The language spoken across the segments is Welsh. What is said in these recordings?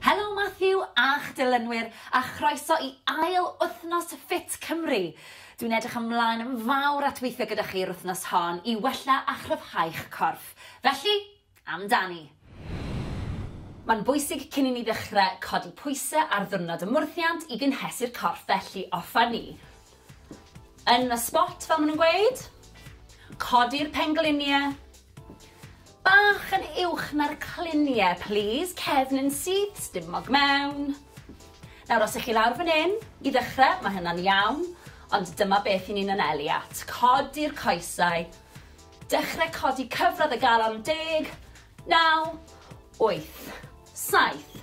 Helo Matthew a'ch dilynwyr a chroeso i ail wythnos Ffit Cymru! Dwi'n edrych ymlaen yn fawr at weithio gyda chi yr wythnos hon i wella a chryfhau'ch corff. Felly, amdani! Mae'n bwysig cyn i ni ddechrau codi pwysau ar ddiwrnod ymwrthiant i gynhesu'r corff felly offa ni yn y sbot fel maen nhw'n gweud. Codi'r pengliniau. Bach yn uwch na'r clunie plîs, cefn yn syth, stumog mewn. Nawr os 'ych chi lawr fan 'yn, i ddechre, ma' hynna'n iawn, ond dyma beth 'yn ni'n anelu at, codi'r coesau, dechre codi cyfradd y galon, deg, naw, wyth, saith,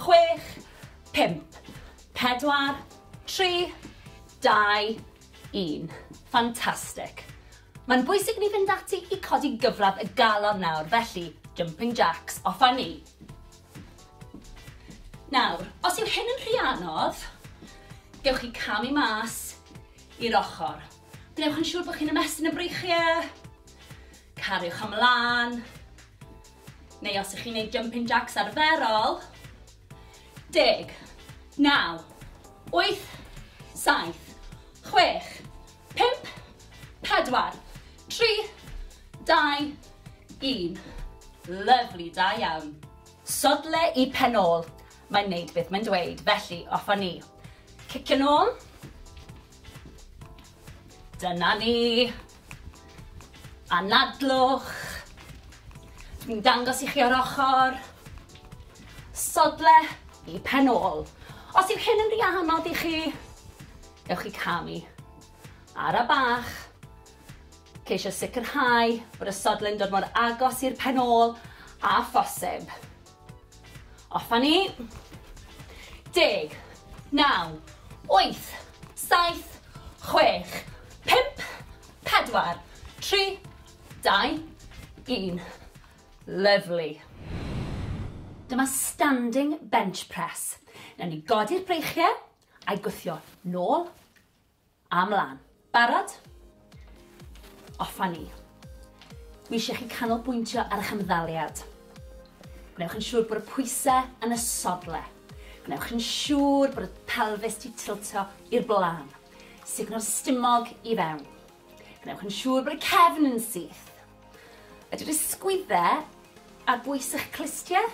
chwech, pump, pedwar, tri, dau, un. Fantastic! Mae'n bwysig i ni fynd ati i codi gyfradd y galon nawr, felly, jumping jacks, off â ni! Nawr, os yw hyn yn rhy anodd, gewch chi camu mas i'r ochr. Gwnewch yn siŵr bod chi'n ymestyn y breichiau, cariwch ymlaen, neu os ych chi'n gwneud jumping jacks arferol, Deg. Naw. Wyth. Saith. Chwech. Pump. Pedwar. Tri. Dau. Un. Lyfli, da iawn. Sodle i pen ôl. Mae'n neud beth mae'n dweud, felly off a ni. Cicio nôl. Dyna ni. Anadlwch. Dwi'n dangos i chi o'r ochr. Sodle i pen ôl. Os yw hyn yn rhy anodd i chi, ewch i camu. Ara bach. Ceisio sicrhau bod y sodle'n dod mor agos i'r pen ôl a phosib. Off a ni. Deg. Naw. Wyth. Saith. Chwech. Pump. Pedwar. Tri. Dau. Un. Lyfli. Dyma standing bench press. Newn ni godi'r breichiau, a'i gwthio nôl, A mlan. Barod? Off a ni. Dwi eisiau chi canolbwyntio ar eich ymddaliad. Gwnewch yn siŵr bod y pwysau yn y sodle. Gwnewch yn siŵr bod y pelfis 'di tiltio i'r blaen. Sugno'r stumog i fewn. Gwnewch yn siŵr bod y cefn yn syth. Ydy'r ysgwyddau ar bwys eich clustiau?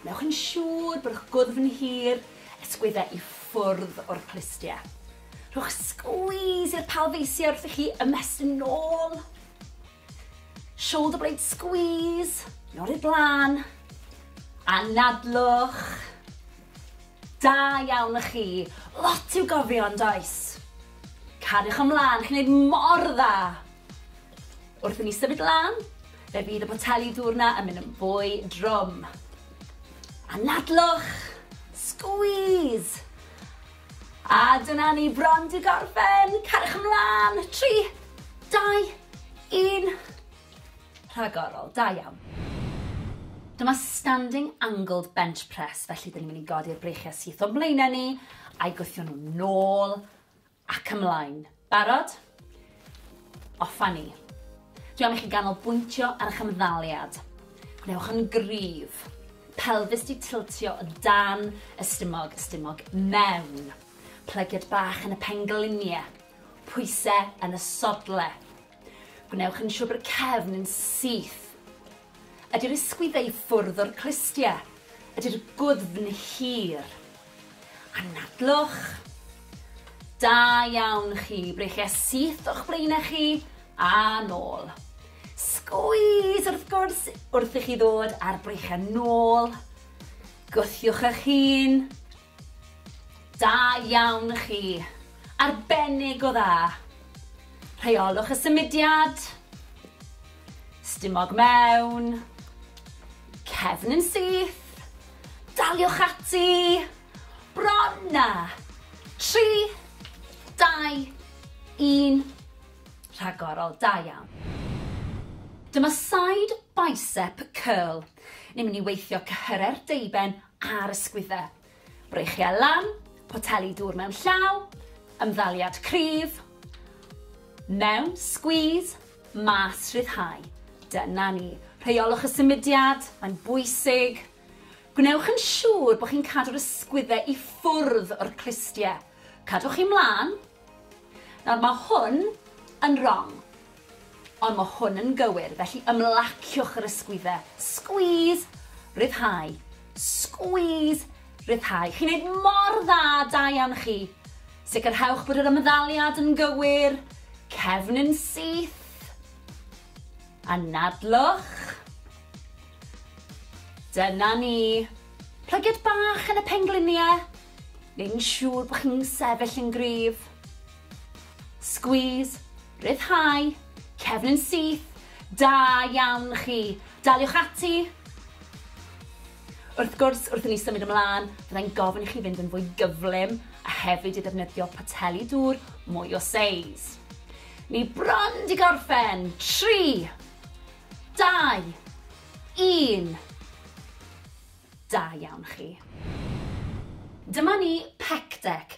Wnewch yn siŵr bod eich gwddf yn hir, ysgwyddau i ffwrdd o'r clustiau. Rhowch sgwîs i'r palfeisiau wrth i chi ymestyn yn ôl. Shoulder blade squeeze, yn ôl i'r blaen. Anadlwch. Da iawn y chi. Lot i'w gofio yn does? Cariwch ymlaen, chi'n gwneud mor dda. Wrth i ni symud lan, fe fydd y poteli dŵr 'na yn mynd yn fwy drwm. Anadlwch! Squeeze! A dyna ni bron 'di gorffen! Cariwch ymlan! Tri, dau, un. Rhagorol, da iawn. Dyma standing angled bench press, felly dyn ni'n mynd i godi'r breichiau syth o'n mlaenau ni, a'i gwthio nhw'n nôl Ac ymlaen. Barod? Off a ni. Dwi am i chi ganolbwyntio ar eich ymddaliad. Gwnewch yn gryf. Pelfis di tiltio o dan y stumog, y stumog mewn. Plygiad bach yn y penglinie. Pwyse yn y sodle. Gwnewch yn siwr bod y cefn yn syth. Ydy'r ysgwyddau ffwrdd o'r clustie? Ydy'r gwddfn hir? Anadlwch. Da iawn chi, breichia syth o'ch blaenau chi a nôl. Sgwys wrth gwrs wrth i chi ddod ar breichia nôl. Gwthiwch eich hun. Da iawn chi. Arbennig o dda. Rheolwch y symudiad. Stumog mewn. Cefn yn syth. Daliwch ati. Bron na. 3, 2, 1. Rhagorol, da iawn. Dyma side bicep curl. Ni'n mynd i weithio cyhyre'r deuben a'r ysgwyddau. Breichiau lan, poteli dŵr mewn llaw, ymddaliad cryf, mewn, squeeze, mas, rhyddhau. Dyna ni. Rheolwch y symudiad, mae'n bwysig. Gwnewch yn siŵr bod chi'n cadw'r ysgwyddau i ffwrdd o'r clustiau. Cadwch chi mlaen. Nawr mae hwn yn wrong. Ond mae hwn yn gywir, felly ymlaciwch yr ysgwyddau. Squeeze! Rhyddhau. Squeeze! Rhyddhau. Chi'n neud mor dda, da iawn chi. Sicrhewch bod yr ymddaliad yn gywir. Cefn yn syth. Anadlwch. Dyna ni. Plygiad bach yn y pengliniau. Neu'n siŵr bod chi'n sefyll yn gryf. Squeeze. Rhyddhau, cefn yn syth, da iawn chi, daliwch ati! Wrth gwrs, wrth i ni symud ymlaen, fyddai'n gofyn i chi fynd yn fwy gyflym a hefyd i ddefnyddio poteli dŵr mwy o seis. Ni bron di gorffen! 3, 2, 1. Da iawn chi. Dyma ni, Pectec.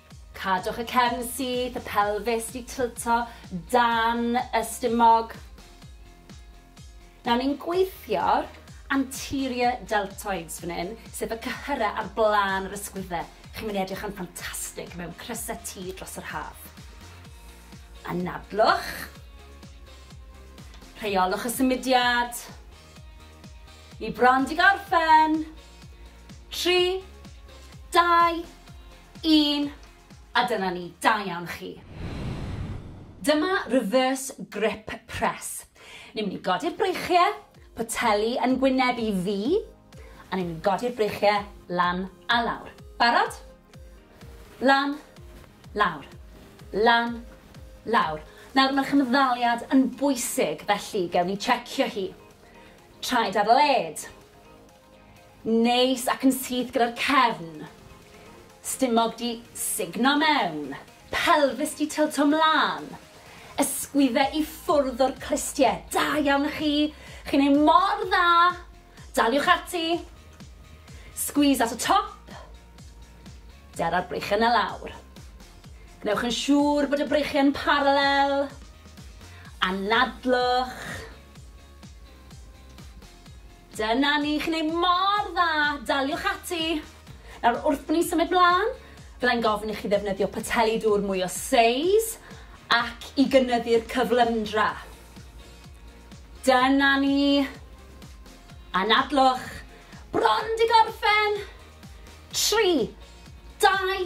Cadwch y cefn syth, y pelfis di tilto dan y stumog. Nawr ni'n gweithio'r anterior deltoids fan hyn, sef y cyhyrau ar blaen yr ysgwydde. Chi'n mynd i edrych yn ffantastig mewn crysau T dros yr haf. Anadlwch. Rheolwch y symudiad. Ni bron di gorffen. Tri, dau, Un, a dyna ni, da iawn chi. Dyma reverse grip press. Ni'n mynd i godi'r breichiau, poteli yn gwyneb i fi, a ni'n mynd i godi'r breichiau lan a lawr. Barod? Lan, lawr, lan, lawr. Nawr mae'r chymddaliad yn bwysig, felly gewn ni checio hi. Traed ar led. Neis ac yn syth gyda'r cefn. Stumog 'di sugno mewn. Pelfis 'di tylto 'mlan. Ysgwydde i ffwrdd o'r clustie. Da iawn chi! Chi'n neud mor dda! Daliwch ati! Squeeze at y top. Dera'r breichiau 'na lawr. Gwnewch yn siŵr bod y breichiau yn paralel. Anadlwch. Dyna ni, chi'n neud mor dda, daliwch ati! Nawr, wrth ni symud mlan, fyddai'n gofyn i chi ddefnyddio poteli dŵr mwy o seis ac i gynyddu'r cyflymdra. Dyna ni! Anadlwch! Bron 'di gorffen! Tri, dau,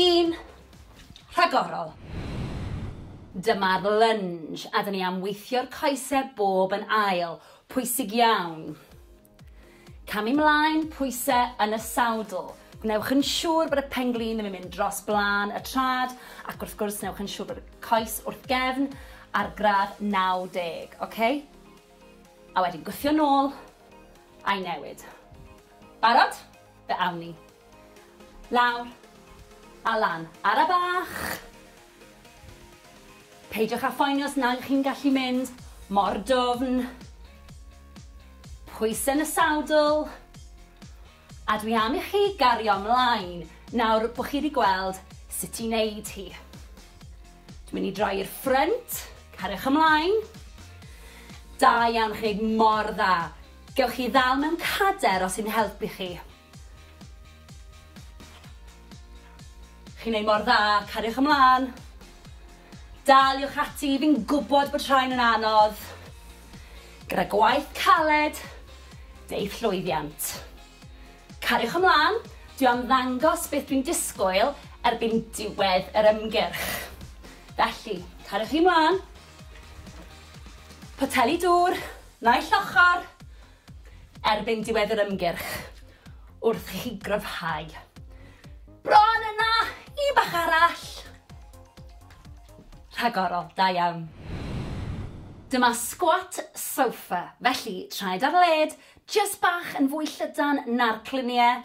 un, rhagorol! Dyma'r lunge, a 'dyn ni am weithio'r coese bob yn ail. Pwysig iawn. Camu 'mlaen, pwyse yn y sawdl. Gwnewch yn siŵr bod y pen-glin ddim yn mynd dros blaen y trad ac wrth gwrs newch yn siŵr bod y coes wrth gefn ar gradd 90, oce? A wedyn gwthio nôl a'i newid. Barod? Fe awn ni. Lawr. A lan. Ara bach! Peidiwch â phoeni os nag ych chi'n gallu mynd mor dwfn. Pwysau yn y sadl. A dwi am i chi gario ymlaen nawr bod chi wedi gweld sut i wneud hi. Dwi'n mynd i droi i'r ffrynt. Cariwch ymlaen. Da iawn, chi'n gwneud mor dda. Gewch chi ddal mewn cader os sy'n helpu chi. Chi'n neud mor dda, cariwch ymlan. Daliwch ati, fi'n gwbod bod rhain yn anodd. Gyda gwaith caled, deiff llwyddiant. Cariwch ymlan, dwi am ddangos beth dwi'n disgwyl erbyn diwedd yr ymgyrch. Felly, cariwch chi ymlan. Poteli dŵr, naill ochr. erbyn diwedd yr ymgyrch wrth i chi gryfhau. Bron yna! Un bach arall! Rhagorol, da iawn. Dyma squat sofa, felly traed ar led, jyst bach yn fwy llydan na'r cluniau,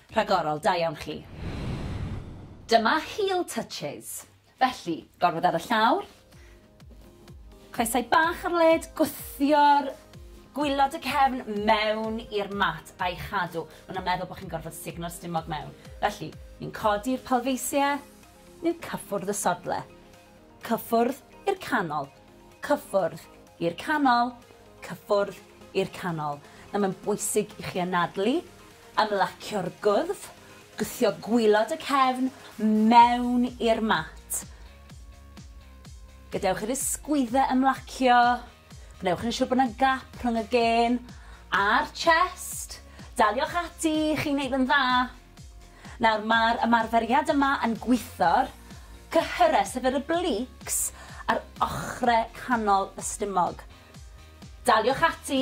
Rhagorol, da iawn chi. Dyma heel touches. Felly, gorwedd ar y llawr, coesau bach ar led, gwthio'r gwylod y cefn mewn i'r mat a'i chadw. Maen nhw'n meddwl bod chi'n gorfod sugno'r stumog mewn. Felly, ni'n codi'r palfeisiau, ni'n cyffwrdd y sodle. Cyffwrdd i'r canol. Cyffwrdd i'r canol. Cyffwrdd i'r canol. Nawr mae'n bwysig i chi anadlu, ymlacio'r gwddf, gwthio gwylod y cefn mewn i'r mat. Gadewch i'r ysgwyddau ymlacio. Gwnewch yn siŵr bod yna gap rhwng y gên a'r chest. Daliwch ati, chi'n neud yn dda. Nawr mae'r ymarferiad yma yn gwitho'r cyhyrau, sef yr obliques, ar ochrau canol y stumog. Daliwch ati.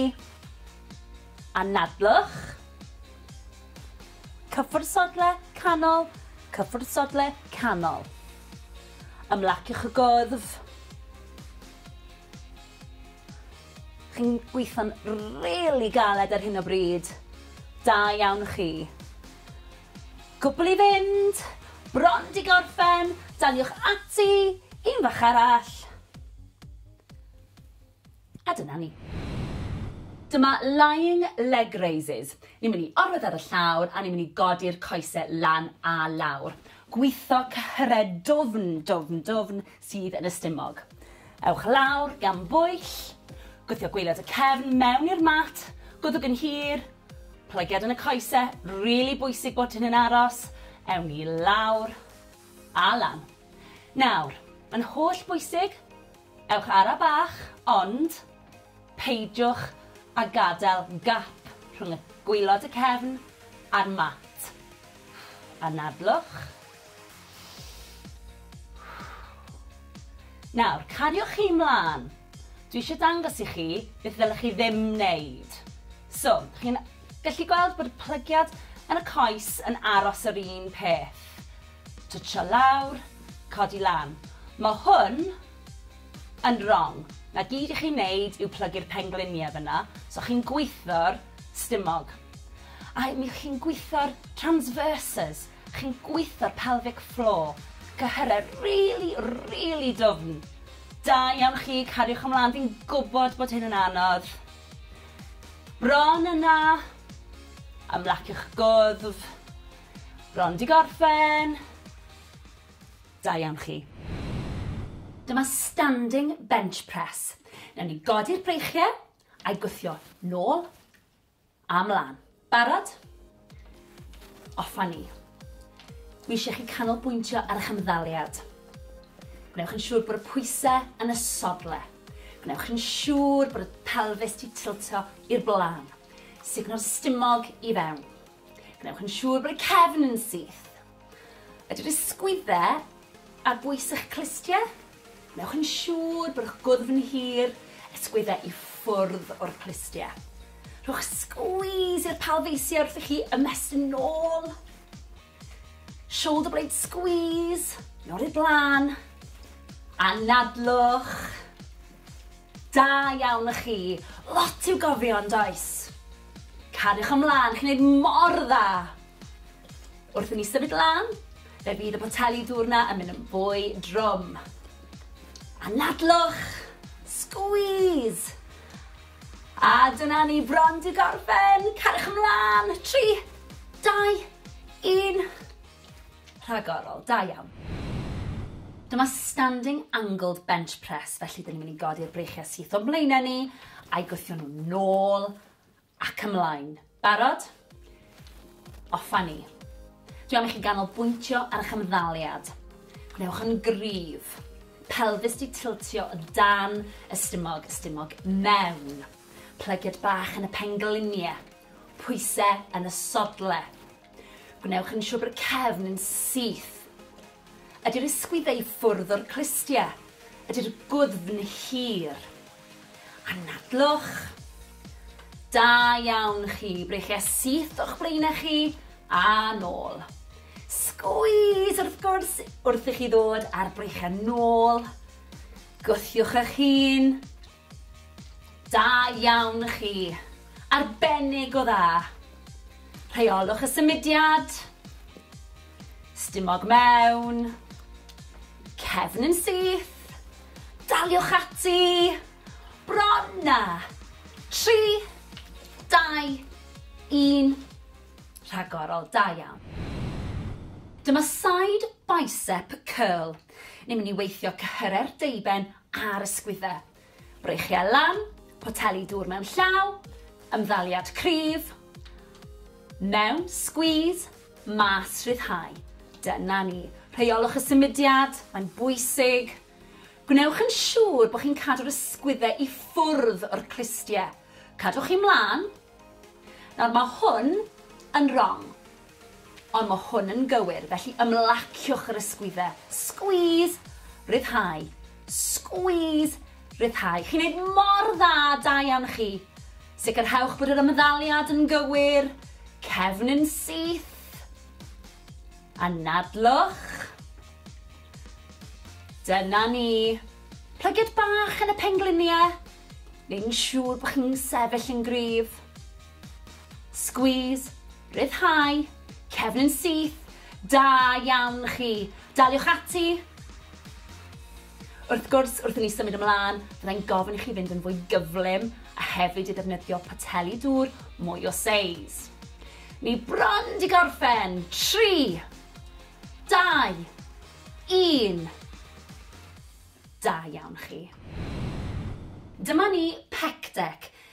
Anadlwch. Cyffwrdd sodle, canol, cyffwrdd sodle, canol. Ymlaciwch y gwddf. Chi'n gweithio'n rili galed ar hyn o bryd. Da iawn chi. Cwpl i fynd! Bron 'di gorffen! Daliwch ati! Un fach arall! A dyna ni. Dyma lying leg raises. Ni'n mynd i orwedd ar y llawr a ni'n mynd i godi'r coese lan a lawr. Gwitho cyhyre dwfn, dwfn, dwfn, sydd yn y stumog. Ewch lawr gan bwyll, gwthio gwaelod y cefn mewn i'r mat, gwddwg yn hir, plygiad yn y coese, rili bwysig bod hyn yn aros, ewn ni lawr a lan. Nawr, mae'n holl bwysig, ewch ara bach, ond peidiwch a gadael gap rhwng y gwaelod y cefn a'r mat. Anadlwch. Nawr, cariwch chi 'mlan. Dwi eisiau dangos i chi beth ddylech chi ddim wneud. So, chi'n gallu gweld bod y plygiad yn y coes yn aros yr un peth. Twtsio lawr, codi lan. Mae hwn yn wrong. Na gyd i chi'n wneud yw plygu'r pengliniau fyna, so chi'n gweithio'r stumog. A mi chi'n gweithio'r transverses. Chi'n gweitho'r pelvic floor. Cyhyrau rili, rili dwfn. Da iawn chi, cariwch ymlaen, fi'n gwybod bod hyn yn anodd. Bron yna. Ymlaciwch gwddf. Bron di gorffen. Da iawn chi. Dyma standing bench press. Newn ni godi'r breichiau a'i gwthio nôl A mlan. Barod? Off a ni. Dwi eisiau chi canolbwyntio ar eich ymddaliad. Gwnewch yn siŵr bod y pwysau yn y sodle. Gwnewch yn siŵr bod y pelfis di tiltio i'r blaen. Sugno'r stumog i fewn. Gwnewch yn siŵr bod y cefn yn syth. Ydy'r ysgwydde ar bwys eich clustie? Wnewch yn siŵr bod eich gwddf yn hir, ysgwydde i ffwrdd o'r clustie. Rhowch squeeze i'r palfeisiau wrth i chi ymestyn nôl. Shoulder blade squeeze, nôl i'r blaen. Anadlwch. Da iawn y chi. Lot i'w gofio yn does? Cariwch ymlaen, chi'n neud mor dda. Wrth i ni symud lan, fe fydd y poteli dŵr 'na yn mynd yn fwy drwm. Anadlwch! Squeeze! A dyna ni bron 'di gorffen! Cariwch ymlan! Tri, dau, un. Rhagorol, da iawn. Dyma standing angled bench press, felly dyn ni'n mynd i godi'r breichiau syth o'n mlaenau ni, a'i gwthio nhw'n nôl Ac ymlaen. Barod? Off a ni. Dwi am i chi ganolbwyntio ar eich ymddaliad. Gwnewch yn gryf. Pelfis di tiltio o dan y stumog, y stumog mewn. Plygiad bach yn y penglynie. Pwyse yn y sodle. Gwnewch yn siwr bod y cefn yn syth. Ydy'r ysgwyddau ffwrdd o'r clustie? Ydy'r gwddfn hir? Anadlwch. Da iawn chi, breichiau syth o'ch blaenau chi, a nôl. Sgwys wrth gwrs wrth i chi ddod ar breichiau nôl. Gwthiwch eich hun. Da iawn chi. Arbennig o dda. Rheolwch y symudiad. Stumog mewn. Cefn yn syth. Daliwch ati. Bron na. 3, 2, 1. Rhagorol, da iawn. Dyma side bicep curl. Ni'n mynd i weithio cyhyre'r deuben a'r ysgwyddau. Breichiau lan, poteli dŵr mewn llaw, ymddaliad cryf, mewn, squeeze, mas, rhyddhau. Dyna ni. Rheolwch y symudiad, mae'n bwysig. Gwnewch yn siŵr bod chi'n cadw'r ysgwyddau i ffwrdd o'r clustiau. Cadwch chi mlaen. Nawr mae hwn yn wrong. Ond mae hwn yn gywir, felly ymlaciwch yr ysgwyddau. Squeeze! Rhyddhau. Squeeze! Rhyddhau. Chi'n neud mor dda, da iawn chi. Sicrhewch bod yr ymddaliad yn gywir. Cefn yn syth. Anadlwch. Dyna ni. Plygiad bach yn y pengliniau. Neu'n siŵr bod chi'n sefyll yn gryf. Squeeze. Rhyddhau. Cefn yn syth. Da iawn chi. Daliwch ati! Wrth gwrs, wrth i ni symud ymlaen, fyddai'n gofyn i chi fynd yn fwy gyflym a hefyd i ddefnyddio poteli dŵr mwy o seis. Ni bron di gorffen! Tri! Dau! Un! Da iawn chi. Dyma ni, Pectec.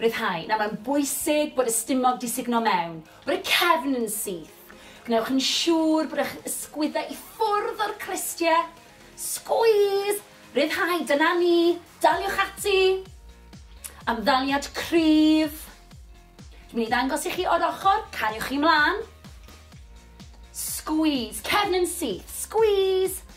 Rhyddhau. Nawr mae'n bwysig bod y stumog 'di sugno mewn, bod y cefn yn syth. Gwnewch yn siŵr bod eich ysgwyddau i ffwrdd o'r clustie. Squeeze! Rhyddhau, dyna ni! Daliwch ati! Am ddaliad cryf. Dwi'n mynd i ddangos i chi o'r ochr, cariwch chi mlaen. Squeeze, cefn yn syth, squeeze!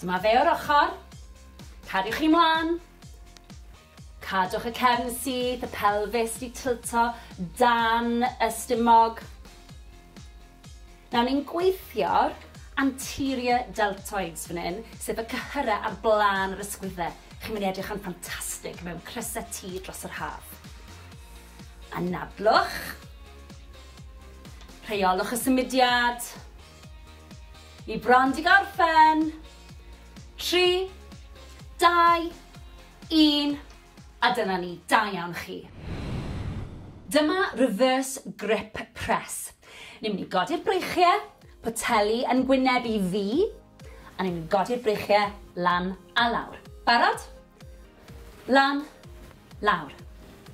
Dyma fe o'r ochr. Cariwch chi mlaen. Cadwch y cefn syth, y pelfis di tylto dan y stumog. Nawr ni'n gweithio'r anterior deltoids fan hyn, sef y cyhyrau ar blaen yr ysgwyddau. Chi'n mynd i edrych yn ffantastig mewn crysau tŷ dros yr haf. Anadlwch. Rheolwch y symudiad. Y brand i gorffen! Tri, dau, un, a dyna ni, da iawn chi. Dyma reverse grip press. Ni'n mynd i godi'r breichiau, poteli yn gwyneb i fi, a ni'n mynd i godi'r breichiau lan a lawr. Barod? Lan, lawr.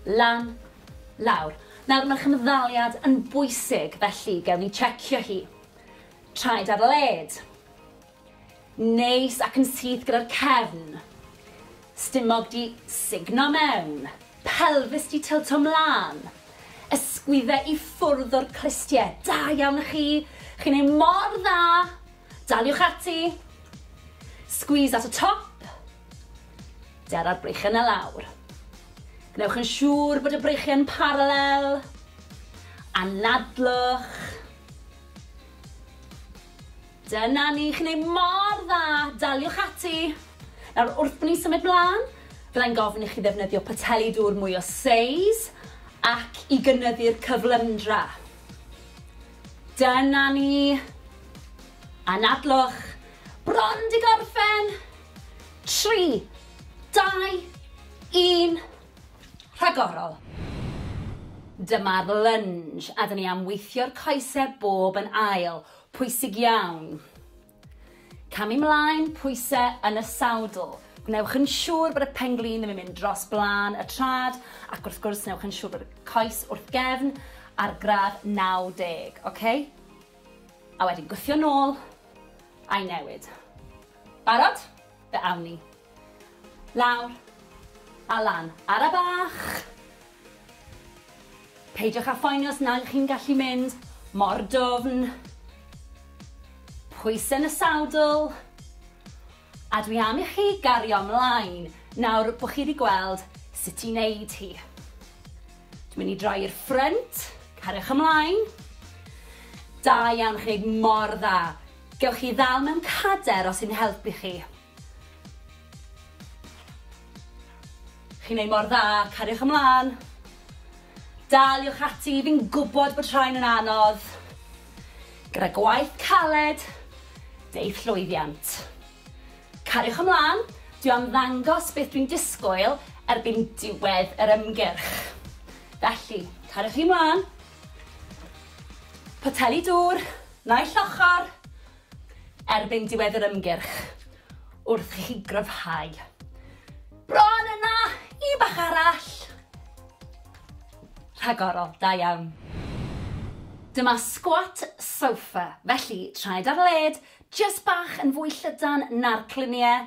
Lan, lawr. Nawr, mae'r cymddaliad yn bwysig, felly gewn ni checio hi. Traed ar led. Neis ac yn syth gyda'r cefn. Stumog di signo mewn. Pelfis di tilto mlaen. Ysgwydde i ffwrdd o'r clustie. Da iawn i chi. Chi'n ei mor dda. Daliwch ati. Squeeze at y top. Dara'r breichiau 'na lawr. Gwnewch yn siŵr bod y breichiau yn paralel. Anadlwch. Dyna ni, chi'n ei mor dda, daliwch ati. Nawr, wrth ni symud mlaen, byddai'n gofyn i chi ddefnyddio poteli dŵr mwy o seis ac i gynyddu'r cyflymdra. Dyna ni. Anadlwch. Bron di gorffen. 3, 2, 1, rhagorol! Dyma'r lunge a dyn ni am weithio'r coesau bob yn ail, pwysig iawn. Camu mlaen, pwysau yn y sawdl. Gwnewch yn siŵr bod y pen-glin ddim yn mynd dros blaen y trad ac wrth gwrs newch yn siŵr bod y coes wrth gefn ar gradd 90, oce? A wedyn gwthio nôl a'i newid. Barod? Fe awn ni. Lawr. A lan. Ara bach! Peidiwch â phoeni os nag chi'n gallu mynd mor dwfn. Pwysau yn y sadl. A dwi am i chi gario mlaen nawr bod chi wedi gweld sut i wneud hi. Dwi'n mynd i droi i'r ffrynt. Cariwch ymlaen. Da iawn, chi'n gwneud mor dda. Gewch chi ddal mewn cader os yn helpu chi. Chi'n neud mor dda, cariwch ymlan. Daliwch ati, fi'n gwbod bod rhain yn anodd. Gyda gwaith caled, deith llwyddiant. Cariwch ymlan, dwi am ddangos beth dwi'n disgwyl erbyn diwedd yr ymgyrch. Felly, cariwch chi mlan. Poteli dŵr, naill ochr, erbyn diwedd yr ymgyrch, wrth i chi gryfhau. Bron yna, un bach arall. Rhagorol, da iawn. Dyma squat sofa, felly traed ar led, jyst bach yn fwy llydan na'r cluniau,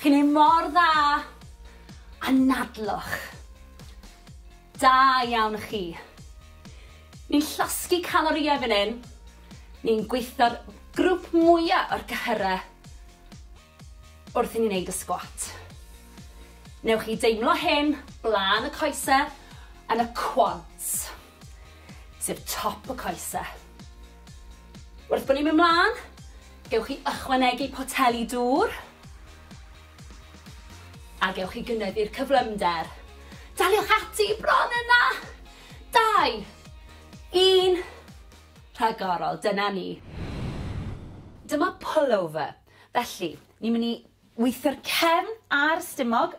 Chi'n neud mor dda! Anadlwch! Da iawn chi! Ni'n llosgi calorïau fan hyn, ni'n gweithio'r grwp mwya o'r cyhyrau wrth i ni neud y sgwat. Newch chi deimlo hyn blaen y coesau yn y quads. sef top y coese. Wrth bod ni'n mynd mlaen, gewch chi ychwanegu poteli dŵr a gewch chi gynyddu'r cyflymder. Daliwch ati bron yna! Dau, un, rhagorol, dyna ni. Dyma pullover. Felly, ni'n mynd i weithio'r cefn a'r stumog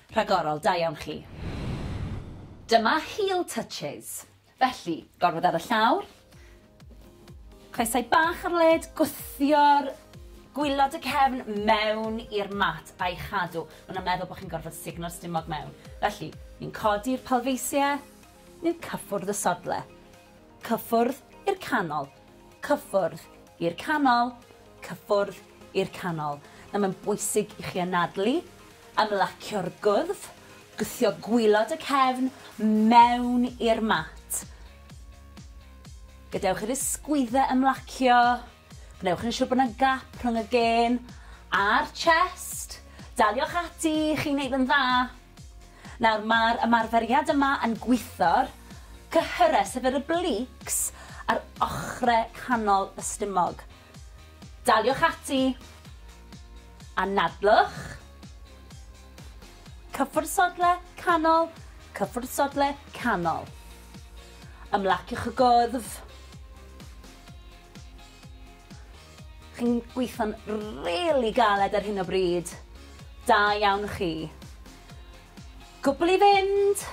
Rhagorol, da iawn chi. Dyma heel touches. Felly, gorfod ar y llawr, coesau bach ar led, gwthio'r gwylod y cefn mewn i'r mat a'i chadw. Maen nhw'n meddwl bod chi'n gorfod sugno'r stumog mewn. Felly, ni'n codi'r palfeisiau, ni'n cyffwrdd y sodle. Cyffwrdd i'r canol. Cyffwrdd i'r canol. Cyffwrdd i'r canol. Nawr mae'n bwysig i chi anadlu, ymlacio'r gwddf, gwthio gwylod y cefn mewn i'r mat. Gadewch i'r ysgwyddau ymlacio. Gwnewch yn siŵr bod yna gap rhwng y gên a'r chest. Daliwch ati, chi'n neud yn dda. Nawr mae'r ymarferiad yma yn gwitho'r cyhyrau, sef yr obliques, ar ochrau canol y stumog. Daliwch ati. Anadlwch. Cyffwrdd sodle, canol, cyffwrdd sodle, canol. Ymlaciwch y gwddf. Chi'n gweithio'n rili galed ar hyn o bryd. Da iawn chi. Cwbl i fynd!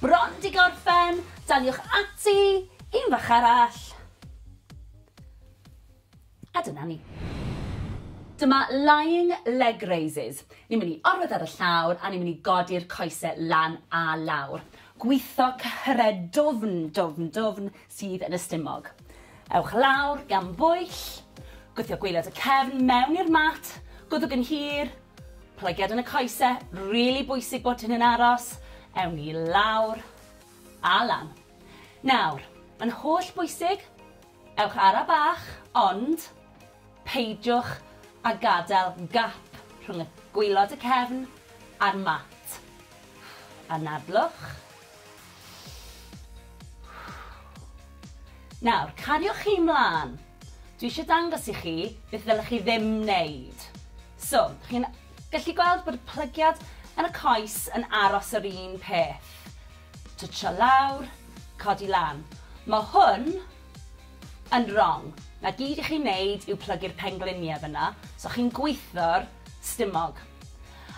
Bron 'di gorffen! Daliwch ati! Un fach arall! A dyna ni. Dyma lying leg raises. Ni'n mynd i orwedd ar y llawr a ni'n mynd i godi'r coese lan a lawr. Gwitho cyhredwfn, dwfn, dwfn, sydd yn y stumog. Ewch lawr gan bwyll, gwthio gwaelod y cefn mewn i'r mat, gwddwg yn hir, plygiad yn y coese, rili bwysig bod hyn yn aros, ewn ni lawr a lan. Nawr, mae'n holl bwysig, ewch ara bach, ond peidiwch a gadael gap rhwng y gwaelod y cefn a'r mat. Anadlwch. Nawr, cariwch chi 'mlan. Dwi eisiau dangos i chi beth ddylech chi ddim wneud. So, chi'n gallu gweld bod y plygiad yn y coes yn aros yr un peth. Twtsio lawr, codi lan. Mae hwn yn wrong. Na gyd i chi wneud yw plygu'r pengliniau fyna, so chi'n gweithio'r stumog.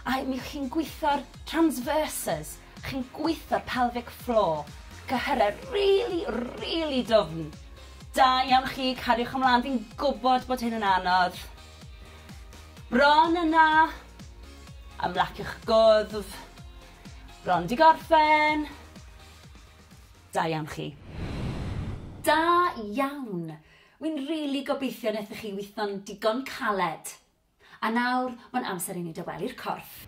A mi chi'n gweithio'r transverses, Chi'n gweitho'r pelvic floor, cyhyrau rili, rili dwfn. Da iawn chi, cariwch ymlaen, fi'n gwybod bod hyn yn anodd. Bron yna. Ymlaciwch gwddf. Bron di gorffen. Da iawn chi. Da iawn! Wi'n rili gobeithio nethoch chi witho'n digon caled. A nawr, mae'n amser i ni dawelu'r corff.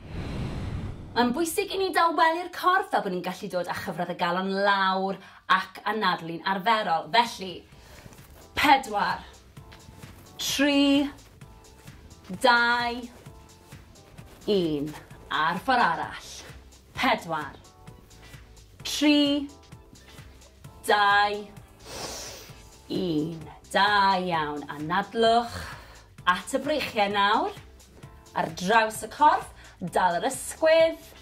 Mae'n bwysig i ni dawelu'r corff fel bod ni'n gallu dod â chyfradd y galon lawr ac anadlu'n arferol. Felly, pedwar, tri, dau, un. A'r ffordd arall. Pedwar, tri, dau, un. Da iawn. Anadlwch. At y breichiau nawr. Ar draws y corff, dal yr ysgwydd.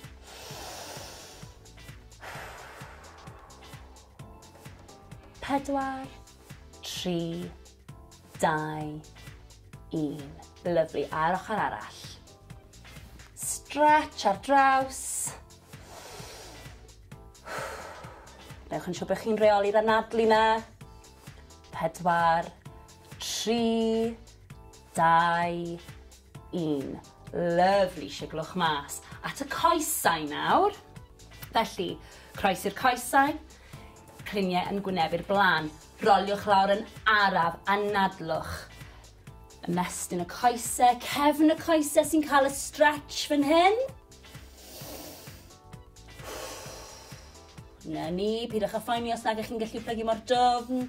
Pedwar, tri, dau, un. Lyflu, a'r ochr arall. Stretch ar draws. Newch yn siŵr bod chi'n reoli'r anadlu na. Pedwar, 3, 2, 1. Lyfli, siglwch mas at y coesau nawr. Felly, croes i'r coesau, cliniau yn gwynebu'r blaen. Roliwch lawr yn araf, anadlwch. Ymestyn y coesau, cefn y coesau sy'n cael y stretch fan hyn. Na ni, pidwch â phoeni os nag ych chi'n gallu plygu mor dofn.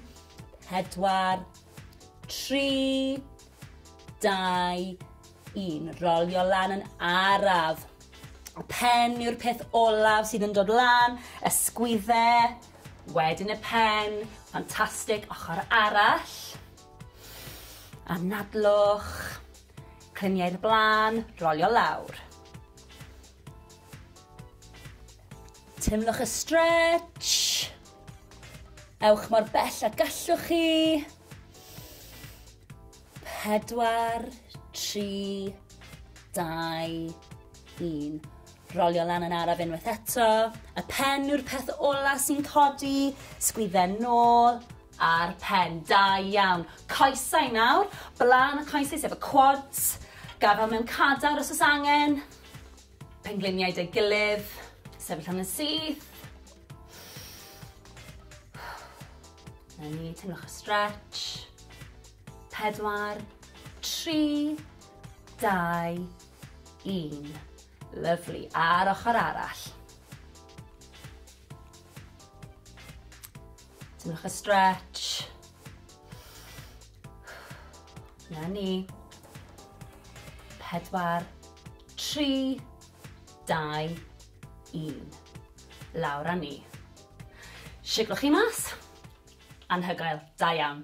4, 3, 2, 1. Rolio lan yn araf. Pen yw'r peth olaf sydd yn dod lan, ysgwydde, wedyn y pen, ffantastig, ochr arall. Anadlwch, clyniau'r blaen, rolio lawr. Tymlwch y stretch. Ewch mor bell a gallwch chi. Pedwar, tri, dau, un. Rolio lan yn araf unwaith eto. Y pen yw'r peth ola sy'n codi. Sgwydden nôl a'r pen. Da iawn. Coesau nawr. Blaen y coesau sef y quads. Gafel mewn cadar os oes angen. Pengliniaid ei gilydd, sefyll am yn syth. Na ni, teimlwch y stretch. Pedwar, tri, dau, un. Lovely. A'r ochr arall. Teimlwch y stretch. Na ni. Pedwar, Tri, dau, un. Lawr a ni. Siglwch chi mas. Anhygoel. Da iawn.